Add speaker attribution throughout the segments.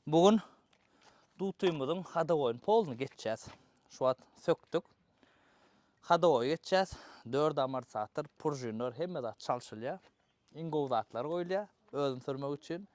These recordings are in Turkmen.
Speaker 1: Bu gün dutymyzyň hadowoýyny polny geçýäs. Şu wagt sökdük. Hadowoýy geçýäs. Dört amortisator, puržinler, hemme zat çalşylýar. Iň gowy zatlar goýulýar özüni sürmek üçin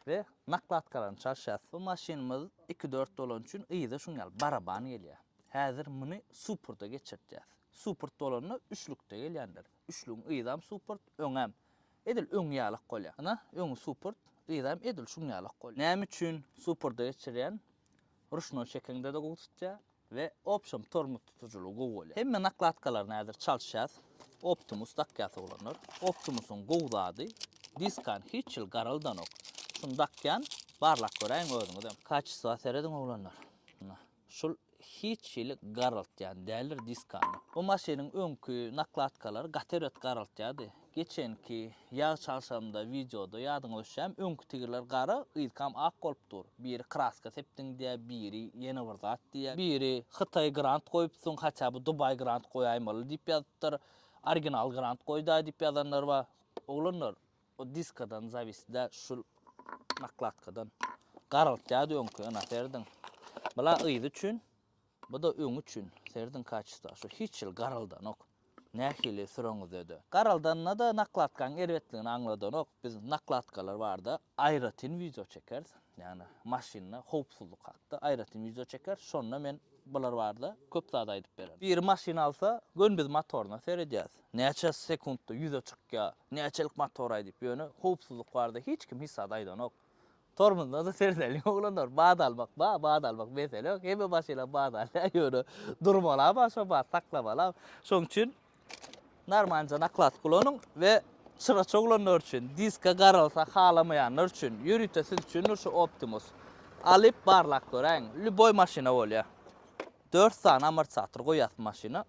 Speaker 1: we nakladkalaryny çalşýas. Bu maşynymyz iki-dört bolany üçin yza şuň ýaly baraban gelýär. Häzir muny suporda geçirtýäs. Suport bolanda üçlükde gelýändir. Üçlügiň yzam suport, öňem. Edil öňňi ýalak bolýar. Ynha, öňňi supurt, yzaým edil şuň ýalak bolýar. Näme üçin supurda geçirýän, ruşnoý çekeňde-de gowy tutýar we opşam tormoz tutujylygy gowy bolýar. Hemme nakladkalaryny häzir çalyşýas. Optimus dakýas oglanlar. Optimusyň gowy zady, diskany hiç ýyl garalydanok. Şuny dakýan, barlap göräýiň özüňizem. Kaçestwa serediň oglanlar. Ynha. Şul hiç hili garaltýan däldir diskany. Bu maşynyň öňki nakladkalary gaty bet garaltýardy. Geçenki ýag çalşamda wideoda ýadyňa düşýämi öňki tigirler gara yzkam ak bolup dur. Biri kraska sepdiň diýýär, biri ýene bir zat diýýär. Biri Hytaý grant goýupsyň hatda bu Dubaý grant goýaýmaly diýip ýazypdyr. Original grant goýdaý diýip ýazanlar bar. Oglanlar O diskadan zawist da şul nakladkadan garaltýardy öňki ynha serdin bula yzy üçin bu da öňi üçin serdin kaçysto şu hiç ýyl garaldanok nähili süreňizde de garaldanda da nakladkaň erbetligini aňladanok biz nakladkalar barda aýratyn wideo çekeris ýagny maşynda howpsuzlyk hakda aýratyn wideo çekeris şonda men bular barda köp zat aýdyp bererin biri maşyn alsa gönbiz motoryna seredýäs Näçe sekuntda ýüze çykýa, näçelik motor aýdyp ýöne howpsuzlyk barada hiç kim hiç zat aýdanok. Tormuzda-da serdelýä oglanlar, bat almak bar, bat almak mesele ýok, hemme maşynam bat alýa ýöne durmalam ha şo bat saklamalam. Şoň üçin narmanca naklask ulanyň we çyraç oglanlar üçin, diska garalsa halamaýanlar üçin, ýörite siz üçindir şu Optimus. Alyp barlap göräýiň, lýuboý maşyna bolýa. Dört sany amortisator goýasy maşyna,